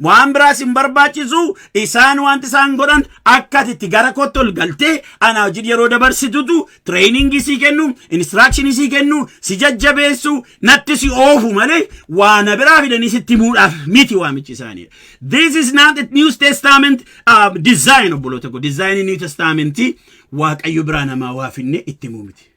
waan biraas hin barbaachisu, isaan wanti isaan godhan akka ati itti gara kootti ol galtee anaa wajjin yeroo dabarsitutu tireeningii sii kennu, inistiraakshini sii kennu, si jajjabeessu, natti si oofu malee waana biraa fidanii sitti himuudhaaf miti waamichi isaanii. This is not a New Testament uh, design obboloota koo. Dizaayinii New Testamentii Waaqayyo biraa namaa waa finne itti himuu miti.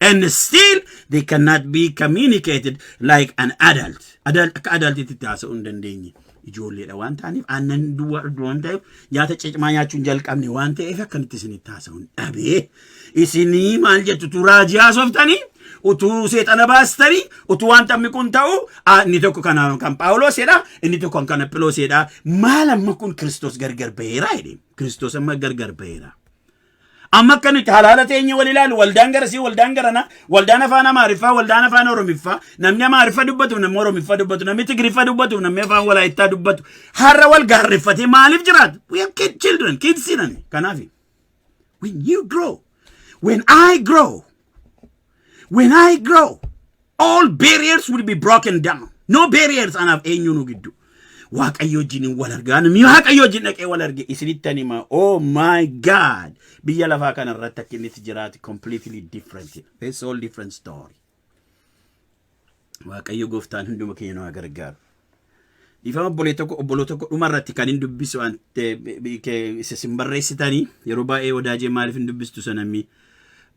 and still they cannot be communicated like an adult. Adult akka adultitti itti haasa'uu hin dandeenye. Ijoolleedha waan ta'aniif aannan duwwaa dhugdu waan ta'eef nyaata cicmaa nyaachuu hin jalqabne waan ta'eef akkamitti isinitti haasa'uu hin dhabee. Isinii maal jettu utuu raajii haasoftanii utuu seexana baastanii utuu waan taphni kun ta'u ah, inni tokko kan kan Phaawulosidha inni tokko kan kan Aphilosidha maal amma kun Kiristoos gargar baheera jedhe Kiristoos amma gargar baheera. Amma akka nuti halaala teenye wal ilaalu waldaan garasii waldaan garanaa waldaan afaan amaariffaa waldaan afaan oromiffaa namni amaariffa dubbatu namni oromiffaa dubbatu namni tigriffa dubbatu namni afaan walaayittaa dubbatu har'a wal gaarreffatee maaliif jiraatu? We have kid children kids jedhan kanaafi. When you grow when I grow When I grow, all barriers will be broken down. No barriers anaaf eenyuunu giddu. Waaqayyo wajjin wal argaa namni waaqayyo wajjin dhaqee wal arge isinitti ani hima. Oh my God! Biyya lafaa kana irratti akka inni itti jiraatu completely different. It's all different story. Waaqayyo gooftaan hunduma keenya nu haa gargaaru. Dhiifama obbolee tokko obboloo tokko dhuma irratti kan hin dubbisu waan isa sin barreessitanii yeroo baay'ee wadaajee maaliif hin dubbistu sanammi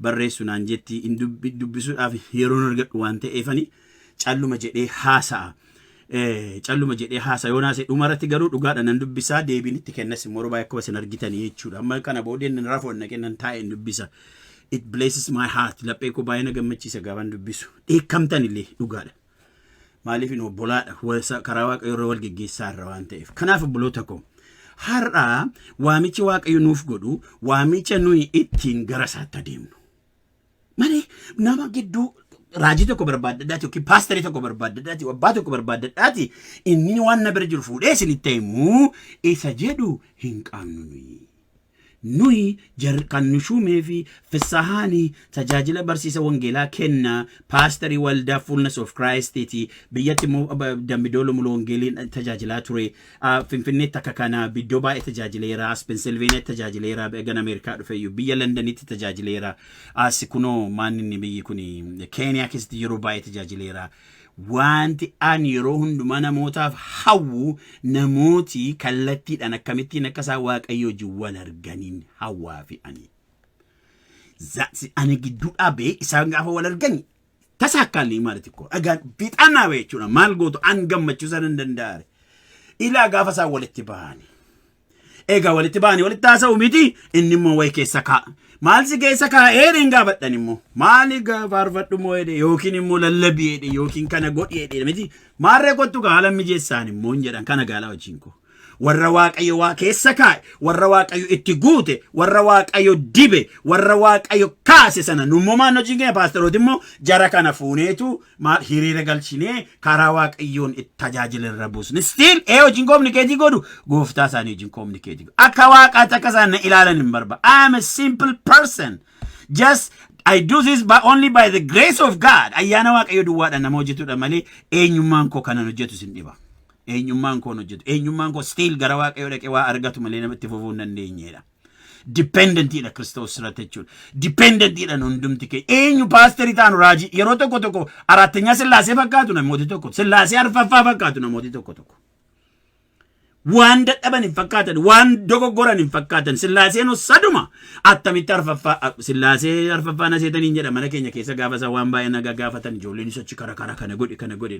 barreessu naan jetti hin dubbisuudhaaf yeroon argadhu waan ta'eefani calluma jedhee haasa'a. calluma jedhee haasa yoon haase dhuma irratti garuu dhugaadha nan dubbisaa deebiin itti kennas immoo yeroo baay'ee akkuma isin argitanii jechuudha amma kana boodeen nan rafu annaqee nan taa'ee hin dubbisa it blesses my heart laphee koo baay'ee na gammachiisa gaafan dubbisu dheekkamtan illee dhugaadha maaliif hin obbolaadha wasa- karaa waaqayyo irra wal geggeessaa irra waan ta'eef kanaaf obboloota koo har'aa waamichi waaqayyo nuuf godhu waamicha nuyi ittiin gara isaatti adeemnu Mani nama gidduu raajii tokko barbaaddadhaati yookiin paastarii tokko barbaaddadhaati yookiin abbaa tokko barbaaddadhaati inni waan na bira jiru fuudhee isinitti himuu isa jedhu hin qabnu nuyi. Nuyi jar kan nu shuumee fi fissahaani tajaajila barsiisa wangeelaa kenna paastarii waldaa fullness of Christ ti biyyatti immoo dambidoolo mulu wangeeliin tajaajilaa ture Finfinneetti akka kana biddoo baay'ee tajaajileera. As Pennsylvaniatti tajaajileera. Egan Ameerikaa dhufeyyuu biyya Londonitti tajaajileera. As kunoo maaninni biyyi kun Keeniyaa keessatti yeroo baay'ee tajaajileera. Wanti an yeroo hundumaa namootaaf hawwu namooti kallattiidhaan akkamittiin akka isaan waaqayyo wajjin wal arganiin hawwaa fi ani. Zaatsi ani gidduu dhaabee isaan gaafa wal argani Tasaakkaallii maali xiqqoo dhagaan fixaan dhaabe jechuudha. Maal gootu an gammachiisa nan danda'are. Ilaa gaafa isaan walitti bahani. Egaa walitti bahani walitti haasa'u miti inni immoo wayi keessa kaa'a. Maal si keessa kaa'ee hin gaafadhan immoo. Maali faarfadhu moo jedhe yookiin immoo lallabii jedhe yookiin kana godhi jedhe miti. Maarree kottu gaa haala mijeessaan immoo hin jedhan kana gaalaa wajjin koo. warra waaqayyo waa keessa kaa'e warra waaqayyo itti guute warra waaqayyo dibe warra waaqayyo kaase sana nummoo maan hojiin keenya paastarooti immoo jara kana fuuneetu maal hiriira galchinee karaa waaqayyoon itti tajaajila irra buusne stiil ee hojiin kominikeetii godhu gooftaa isaanii hojiin kominikeetii godhu akka waaqaatti akka isaan na ilaalan hin barba I am a simple person just I do this by only by the grace of God ayyaana waaqayyo duwwaadha nama hojjetudha malee eenyummaan koo kanan hojjetu sin dhiba. eenyummaan koon hojjetu eenyummaan koo stiil gara waaqayyoo dhaqee waa argatu malee namatti fufuu hin dandeenyedha. Dipendentiidha Kiristoos irratti jechuudha. Dipendentiidha hundumti kee eenyu paasterii taanu raajii yeroo tokko tokko araattenyaa sillaasee fakkaatu namooti tokko sillaasee arfaffaa fakkaatu namooti tokko tokko. Waan dadhaban hin fakkaatan waan dogoggoran hin fakkaatan sillaaseen saduma attamitti arfaffaa sillaasee arfaffaa na seetaniin jedha mana keenya keessa gaafa isaa waan baay'ee nagaa gaafatan ijoolleen achi kara kara kana godhi kana godhi.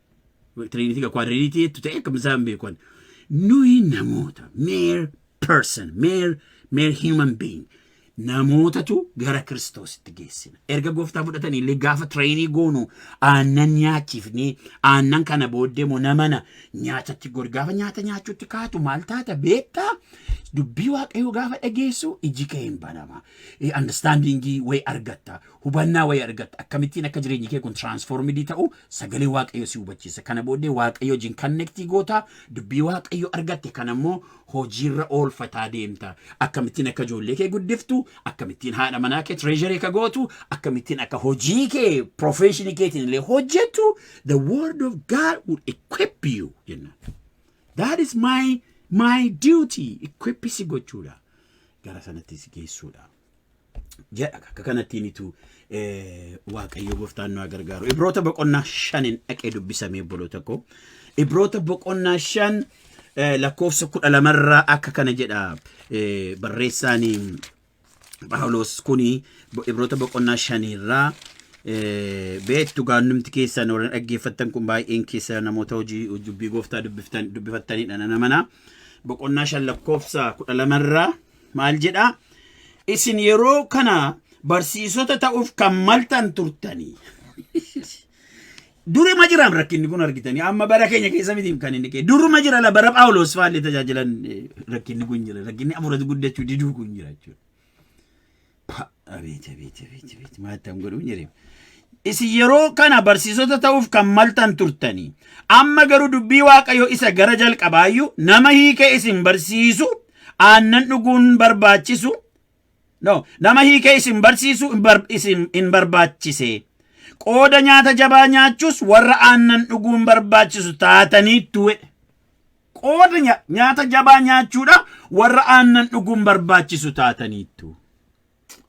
Tiriinitii kwaadiriinitii jettu ta'e akkam isaan beeku ani. Nuyi namoota mere person mere mere human being namootatu gara kiristoositti geessina. Erga gooftaa fudhatanii illee gaafa tireenii goonu aannan nyaachifnee aannan kana booddee immoo namana nyaatatti gor gaafa nyaata nyaachuutti kaatu maal taata beektaa dubbii waaqayyoo gaafa dhageessu iji kee hin banama. Andastaandiingii wayii argatta. Hubannaa wayii argatta. Akkamittiin akka jireenyi kee kun transformidii ta'u sagalee Waaqayyo si hubachiisa. Kana booddee Waaqayyo wajjin connectii goota, dubbii Waaqayyo argatte kana immoo hojiirra oolfataa deemta. Akkamittiin akka ijoollee kee guddiftu, akkamittiin haadha manaa kee treasury akka gootu, akkamittiin akka hojii kee profession keetiin illee hojjettu, the word of God will equip you jennaan. That is my my duty. Equip si gochuudha. Gara sanatti si geessuudha. jedha akka kanattiinitu waaqayyo gooftaan nu gargaaru ibroota boqonnaa shanin dhaqee dubbisamee obboloota koo ibroota boqonnaa shan lakkoofsa kudha lamarraa akka kana jedha barreessaan paawuloos kun ibroota boqonnaa shanirraa beektu gaannumti keessan warra dhaggeeffattan kun baay'een keessa namoota hojii dubbii gooftaa dubbifattanidha nana mana boqonnaa shan lakkoofsa kudha lamarraa Maal jedha? Isin yeroo kana barsiisota ta'uuf kan maltan turtanii. Duruma jiraam rakkinni kun argitanii amma bara keenya keessa miti kan inni ka'e. Duruma jira la bara Phaawulos fa'aallee tajaajilan eh, rakkinni kun jira. Rakkinni hafuuratu guddachuu diduu kun jira jechuudha. Pa- Abeeti abeeti abeeti abeeti maal ta'an godhu hin jedhame. Isin yeroo kana barsiisota ta'uuf kan maltan turtanii amma garuu dubbii waaqayyo isa gara jalqabaayyuu nama hiikee isin barsiisu aannan dhuguun barbaachisu no nama hiikee isin barsiisu hin bar- isin hin barbaachise qooda nyaata jabaa nyaachuus warra aannan dhuguun barbaachisu taataniittu jedhe. Qooda nya- nyaata jabaa nyaachuudha warra aannan dhuguun barbaachisu taataniittu.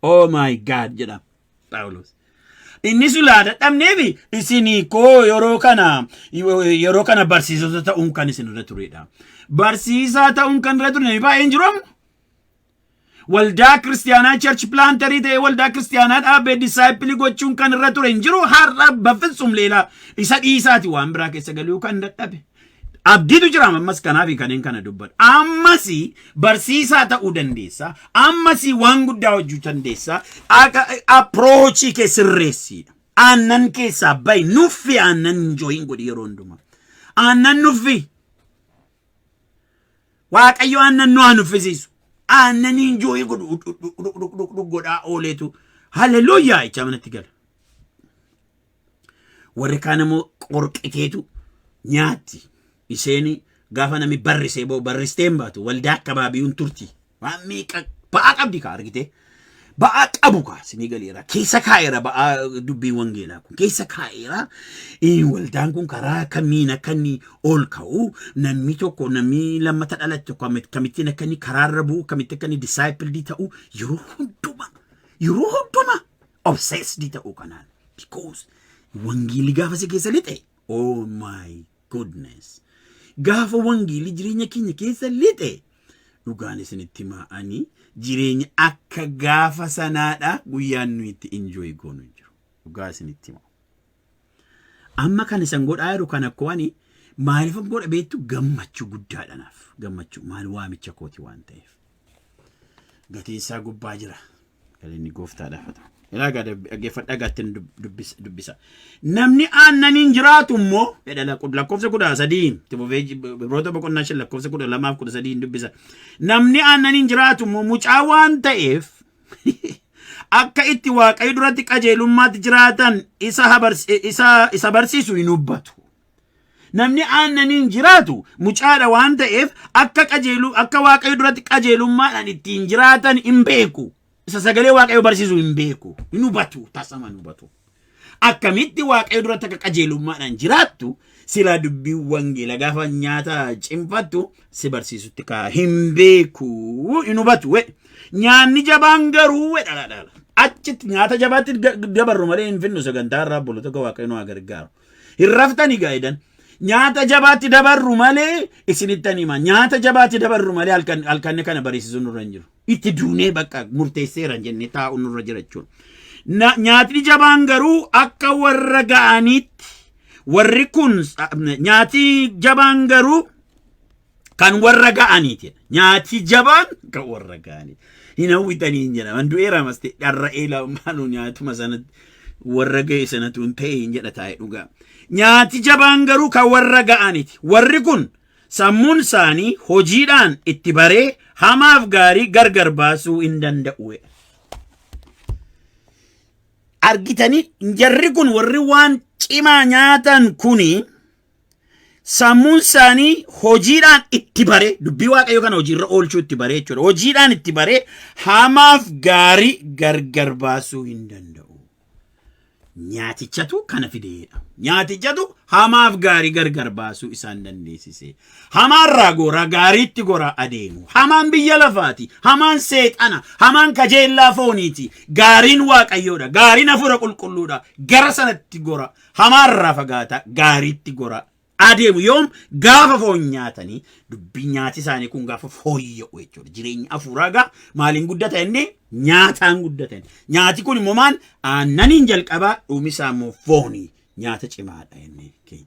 Oh my God jedha Phaawulos. Inni sulaa dadhabneefi isinii koo yeroo kana yeroo kana barsiisota ta'uun kan isin irra turedha. Barsiisaa ta'uun kan irra ture namni baay'een jiru amma. Waldaa kiristiyaanaa church planterii ta'ee waldaa kiristiyaanaa dhaabee disaayippilii gochuun kan irra ture hin jiru har'a bafitsum leelaa isa dhiisaati waan biraa keessa galuu kan dadhabe. Abdiitu jira ammas kanaafi kanneen kana dubbadha. Ammas barsiisaa ta'uu dandeessa. Ammas waan guddaa hojjechuu dandeessa. Approachii kee sirreessiidha. Aannan keessaa bahi nuffi aannan enjoyin godhi yeroo hundumaa. Aannan nuffi Waaqayyo aannan nu haa nuffisiisu. Aannanii injooyi godhu dhugdhugdhugdhug godhaa ooleetu haleluuyaa jechaa manatti gala. Warri kaan immoo qorqiteetu nyaatti. Isheen gaafa namni barrisee boo barristee hin baatu waldaa akkabaabiyuun turti. Waan meeqa ba'aa qabdi kaa argitee. Ba'aa qabu kaa sinii galeera. Keessa kaa'eera ba'aa dubbiin wangeelaa kun. Keessa kaa'eera eh, waldaan kun karaa kamiin akka inni ol ka'u namni tokko namni lammata dhalate tokko amma akkamittiin akka inni karaarra bu'u akkamitti akka inni disaayippildii ta'u yeroo hundumaa yeroo hundumaa obseesdii ta'uu kanaan. Because wangeelli gaafa si keessa lixe. Oh my goodness. Gaafa wangeelli jireenya keenya keessa lixe. Dhugaan isinitti himaa ani jireenya akka gaafa sanaadha guyyaan nuyi itti enjoy goonu hin jiru. Dhugaa isinitti himaa. Amma kan isan godhaa jiru kan akkoo ani maaliif godha beektu gammachuu guddaadha naaf. Gammachuu maal waamicha kooti waan ta'eef. Gatiin isaa gubbaa jira. Galinni gooftaadhaaf haa ta'u. Ilaa gaa dhaggeeffadhaa gaattiin dubbisa. Namni aannaniin jiraatu immoo jedha lakkoofsa kudha sadii itti fufee Ibroota boqonnaa shan lakkoofsa kudha lamaaf kudha sadii dubbisa. Namni aannaniin jiraatu immoo mucaa waan ta'eef akka itti waaqayyo duratti qajeelummaatti jiraatan isa barsiisu hin hubbatu. Namni aannaniin jiraatu mucaadha waan ta'eef akka qajeelu akka waaqayyo duratti qajeelummaadhaan ittiin jiraatan hin beeku. Isa sagalee waaqayyo barsiisu hin beeku. Hin hubatu tasama hin hubatu. Akkamitti waaqayyo duratti akka qajeelummaadhaan jiraattu silaa dubbii wangeela gaafa nyaata cimfattu si barsiisutti kaa hin beeku hin hubatu. we. Nyaanni jabaan garuu we dhala dhala. Achitti nyaata jabaatti ga- dabarru malee hin finnu sagantaa irraa bulu tokko waaqayyo nu haa gargaaru. Hin raftani gaa edan. Nyaata jabaatti dabarru malee isinittan hima. Nyaata jabaatti dabarru malee halkan halkanne kana barisiisuun nurra hin jiru. Itti duunee bakka murteesseera hin jenne taa'u nurra jira jechuudha. Na- Nyaatni jabaan garuu akka warra ga'aniitti warri kun nyaati jabaan garuu kan warra ga'aniiti nyaati jabaan kan warra ga'aniiti hin hawwitanii hin jedha man du'eera maste dharra'ee lamaan nyaatuma sanatti warra ga'e sanatu hin ta'e hin jedha taa'e dhugaa nyaati jabaan garuu kan warra ga'aniiti warri kun sammuun isaanii hojiidhaan itti baree hamaaf gaarii gargar baasuu hin danda'u argitanii jarri kun warri waan cimaa nyaatan kuni Sammuun isaanii hojiidhaan itti baree dubbii waaqayyoo kana hojiirra oolchuu itti baree jechuudha. Hojiidhaan itti baree hamaaf gaarii gargar baasuu hin danda'u. Nyaatichatu kana fideedha. Nyaatichatu hamaaf gaarii gargar baasuu isaan dandeessise. Hamaarraa goraa gaariitti goraa adeemu. Hamaan biyya lafaati. Hamaan seexana. Hamaan kajeellaa fooniiti. Gaariin waaqayyoodha. Gaariin hafuura qulqulluudha. Gara sanatti gora. Hamaarraa fagaataa gaariitti goraa adeemu yoom gaafa foon nyaatanii dubbii nyaati isaanii kun gaafa fooyya'u jechuudha. Jireenya afuuraa gaa maaliin guddata inni nyaataan guddata inni. Nyaati kun immoo maal aannaniin jalqabaa dhumisaa immoo foonii nyaata cimaadha inni keenya.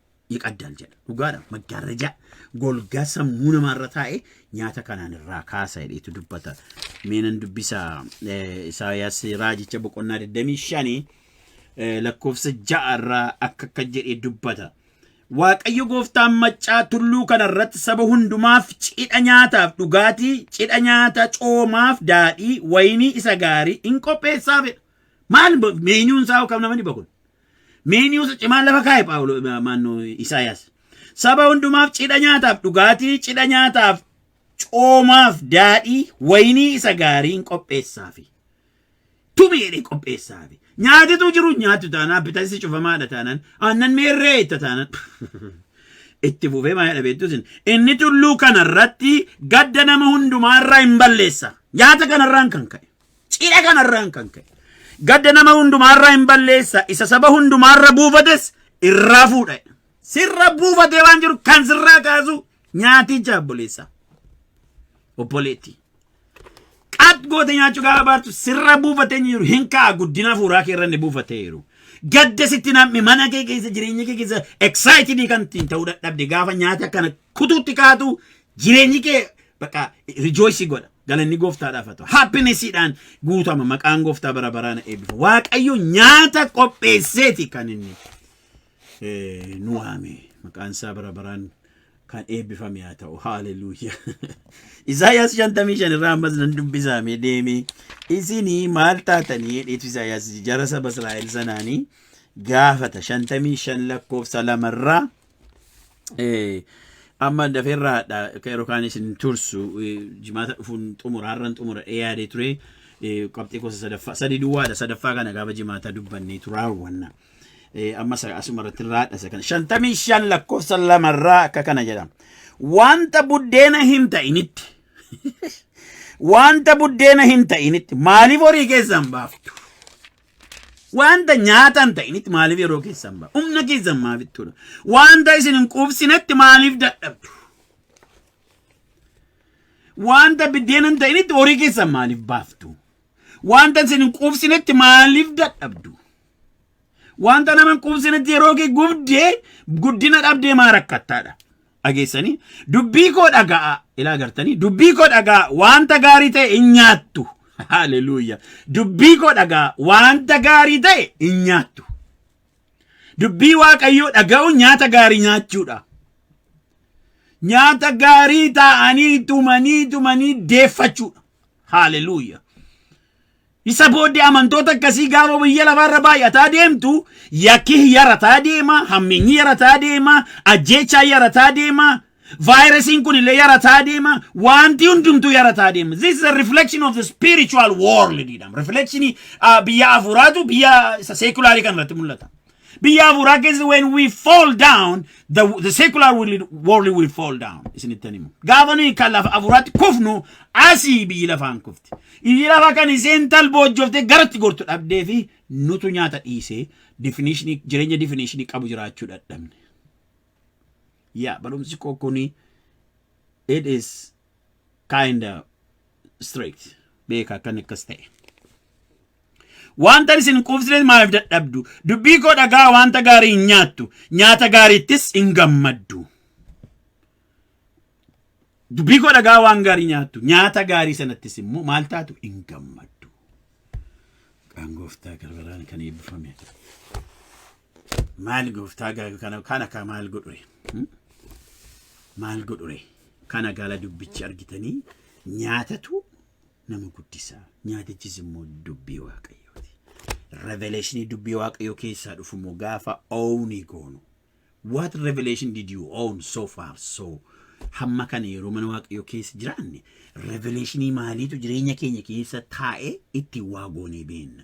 ይቀዳል jedha dhugaadha maggaarraja golgaa sammuu namaarra taa'e nyaata kanaan irraa kaasa jedheetu dubbata meenan dubbisa isaayaas raajicha boqonnaa 25 lakkoofsa ja'a irraa akka akka jedhee dubbata waaqayyo gooftaan maccaa tulluu kana irratti saba hundumaaf cidha nyaataaf dhugaatii cidha nyaata coomaaf daadhii wayinii isa gaarii in qopheessaafidha maal meenyuun isaa kam namani bakun Miiniyoota cimaan lafa kaa'e Phaawulo maannoo Isaayaas. Saba hundumaaf cidha nyaataaf dhugaatii, cidha nyaataaf coomaaf daadhii, wayinii isa gaariin qopheessaafi. Tumi jedhee qopheessaafi. Nyaatitu jiru nyaatu taanaan bitansi cufamaadha taanaan aannan meerree itti taanaan. Itti fufee maa jedha beektus inni tulluu kanarratti gadda nama hundumaarraa hin balleessa. Nyaata kanarraan kan ka'e. Cidha kanarraan kan ka'e gadda nama hundumaarraa hin balleessa isa saba hundumaarra buufates irraa fuudha. Sirra buufatee waan jiru kan sirraa kaasu nyaaticha obboleessa. Obboleetti. Qaat goote nyaachuu gaafa baartu sirra buufatee jiru hin ka'a guddina fuuraa kee irra ni buufatee jiru. Gadda sitti namni mana kee keessa jireenya kee keessa excited kan ittiin ta'uu dadhabde gaafa nyaata kana kutuutti kaatu Jireenyi kee bakka rejoice godha. Galanni gooftaadhaaf haa ta'u. Happinessiidhaan guutama maqaan gooftaa bara baraan eebbifa. Waaqayyo nyaata qopheesseeti kan inni eh, nu waame. Maqaan isaa bara baraan kan eebbifame haa ta'u. Haaleluyyaa. Isaayyaas 55 irraa ammas nan dubbisaame deeme. Isinii maal taatanii jedheetu Isaayyaas jara saba Israa'el sanaanii gaafata 55 lakkoofsa lamarraa Eh, amma dafeerraadha akka yeroo kaan isin tursu eh, jimaata dhufuun xumura har'an xumura ee yaadee ture eh, qabxii gosa sadaffaa sadii duwwaadha sadaffaa kana gaafa jimaata dubbannee turaawwanna Eh, amma sa- asuma irratti irraadha isa kana shantamii shan lakkoofsa lamarraa akka kana jedhama wanta buddeena hin ta'initti wanta buddeena hin ta'initti maaliif horii keessan baaftu Wanta nyaata hin ta'initti maaliif yeroo keessan ba'a? Humna keessan maaf itti godha? Wanta isin hin quubsinetti maaliif dadhabdu? Wanta biddeena hin ta'initti horii keessan maaliif baaftu? Wanta isin hin quubsinetti maaliif dadhabdu? Wanta nama hin quubsinetti yeroo kee gubdee guddina dhabdee maa rakkattaadha? dhageessanii dubbii koo dhaga'aa ilaa gartanii dubbii koo dhaga'aa wanta gaarii ta'e hin nyaattu haleluuya dubbii koo dhaga'aa wanta gaarii ta'e hin nyaattu dubbii waaqayyoo dhaga'uun nyaata gaarii nyaachuudha nyaata gaarii taa'anii tumanii tumanii deeffachuudha haleluuya Isa booddee amantoota akkasii gaafa biyya lafaarra baay'ataa deemtu yakki yarataa deema, hammeenyi yarataa deema, ajjeechaan yarataa deema, vaayirasiin kun illee yarataa deema, wanti hundumtuu yarataa deema. This is a reflection of the spiritual world jedhama. Reflectionii ah, biyya hafuuraatu biyya isa seekulaarii kan irratti mul'ata. Biyya hafuuraa keessatti when we fall down, the, the secular world, world will fall down. Isinitti himu. Gaafa nuyi kan lafa hafuuraatti kufnu asii biyyi lafaan kufti. Biyyi lafaa kan isheen talboojjofte garatti gortu dhabdee fi nutu nyaata dhiisee definition- jireenya definishinii qabu jiraachuu dadhabne. yaa barumsi koo kuni it is kind of strict beeka akkan akkas ta'e wanta isin quufsitan maaliif dadhabdu dubbii koo dhagaa wanta gaarii hin nyaattu nyaata gaariittis hin gammaddu dubbii koo dhagaa waan gaarii nyaattu nyaata gaarii sanattis immoo maal taatu hin gammaddu. Kan gooftaa garbaraan kan eebbifame. Maal gooftaa gaala kana kana kaa maal godhure? Hmm? Maal godhure? Kana gaala dubbichi argitanii nyaatatu nama guddisa. Nyaatichis immoo dubbii waaqayyooti. Revelation dubbii waaqayyoo keessaa dhufu immoo gaafa ownii goonu. What revelation did you own so far so hamma kana yeroo mana waaqayyoo keessa jiraanne revelationii maaliitu jireenya keenya keessa taa'ee itti waa goonee beenna.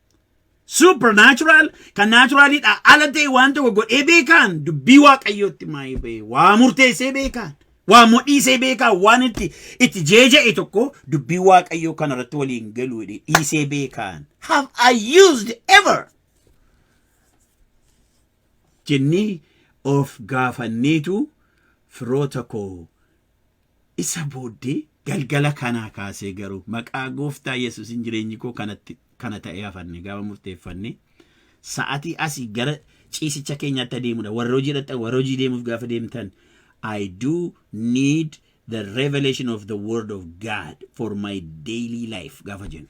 supernatural kan naturalidha ala ta'e waan tokko godhee beekaan dubbii waaqayyootti maayee ba'e waa murteessee beekaan waa modhiisee beekaan waan itti itti jeeja'e tokko dubbii waaqayyoo kana irratti waliin galu jedhee dhiisee beekaan have I used ever jennee of gaafanneetu firoota koo Isa booddee galgala kanaa kaasee garuu maqaa gooftaa Yesuusin jireenyi koo kanatti kana ta'ee hafanne gaafa murteeffanne sa'atii asii gara ciisicha keenyaatti adeemudha. Warra hojii dhaqxan warra hojii deemuuf gaafa deemtan I do need the revelation of the word of God for my daily life gaafa jennu.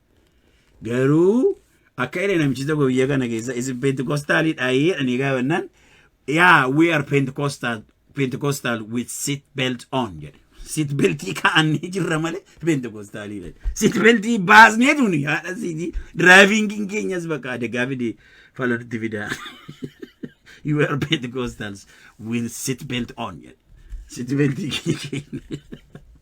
Garuu akka jedhe namichi tokko biyya kana keessa isin pentikostaalii dhaayee jedhanii gaafannaan yaa we are pentikostaal pentikostaal with seat belt on jedhe. Seat beltii kaa'annee jirra malee pentikostaalii jedhe. Seat beltii baasnee tuni haadha siitii diraayivingiin keenyas bakka adegaa fide falatti fidaa. you are pentikostaals with seat belt on jedhe. Seat beltii keenya.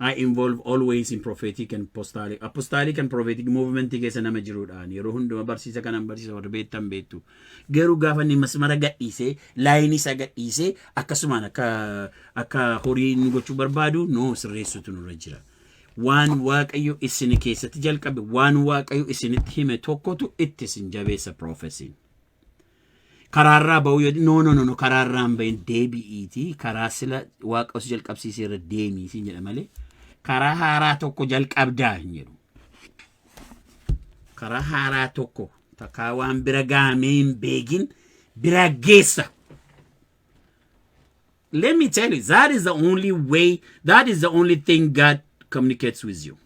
I involve always in prophetic and apostolic. Apostolic and prophetic movement keessa nama jiruudhaan yeroo hunduma barsiisa kanan barsiisa warri beektan beektu. Garuu gaafa inni masmara gadhiisee laayinii isaa gadhiisee akkasumaan akka akka horii inni gochuu barbaadu noo sirreessutu nurra jira. Waan waaqayyo isin keessatti jalqabe waan waaqayyo isinitti hime tokkotu itti isin jabeessa proofesiin. Karaarraa ba'uu yoo no no no no karaarraa hin ba'in deebi'iiti karaa sila waaqa osoo jalqabsiisee irra deemii siin jedha malee karaa haaraa tokko jalqabdaa hin jedhu. Karaa haaraa tokko takkaa waan bira gahamee hin beekin bira geessa. Let me tell you, that is the only way, that is the only thing God communicates with you.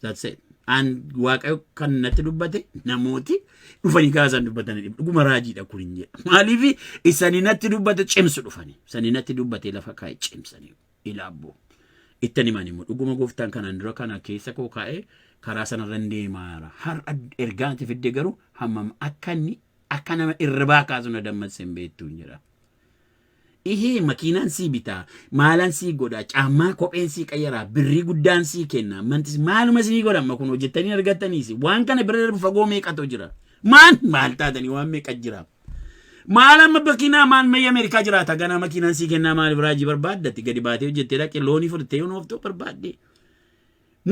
That's it. An waaqayyo kan natti dubbate namooti dhufanii kaasaan dubbatanii dhib- dhuguma raajiidha kun hin jedhu. Maaliif isanii natti dubbate cimsu dhufanii. Isanii natti dubbate lafa kaa'e cimsanii ilaabboo. Ittan himan immoo dhuguma gooftaan kanaan dura kana keessa koo kaa'e karaa sanarra hin deemaa jira. Har'a ergaa ati fidde garuu hammam akka inni akka nama irribaa kaasu na dammasse hin beektu hin jedha. Ihee makiinaan sii bitaa, maalan sii godhaa, caammaa, kopheen sii qayyaraa, birrii guddaan sii kennaa, mantis maaluma isinii godha amma kunoo jettanii argattanii isin waan kana bira darbu fagoo meeqatu jira. Maan maal taatanii waan meeqa jira. Maal amma bakinaa maal mayya Ameerikaa jiraata ganaa makiinaan sii kennaa maaliif raajii barbaaddatti gadi baatee hojjettee dhaqee loonii fudhattee yoon ooftoo barbaaddee.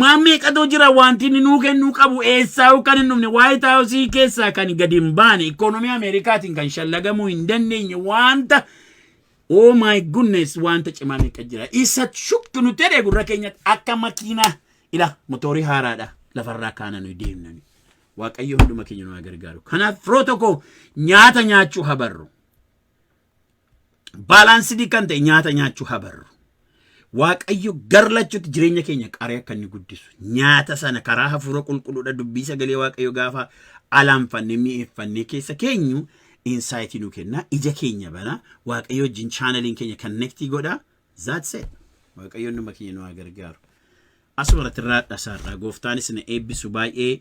Maammee qadoo jira wanti inni nuu kennuu qabu eessaayuu kan hin dhumne waayit haawusii keessaa kan gadi hin baane ikoonomii Ameerikaatiin kan shallagamuu hin dandeenye wanta oh my goodness wanta cimaa meeqa jira isa shuktu nu jedhe gurra keenyatti akka makiinaa ila motoorii haaraadha lafarraa kaana nuyi deemnani waaqayyo hunduma keenya nu haa gargaaru kanaaf firoota koo nyaata nyaachuu habarru baalaansidii kan ta'e nyaata nyaachuu haa barru. Waaqayyo gar lachuutti jireenya keenya qaree akka inni guddisu nyaata sana karaa hafuura qulqulluudha dubbii sagalee waaqayyo gaafa alaanfannee mi'eeffannee keessa keenyu insaayitii nu kenna ija keenya bana waaqayyo wajjin chaanaliin keenya kannektii godha zaatse waaqayyoon nama keenya nu haa gargaaru. Asuma irratti irraa dhasaarraa gooftaanis na eebbisu baay'ee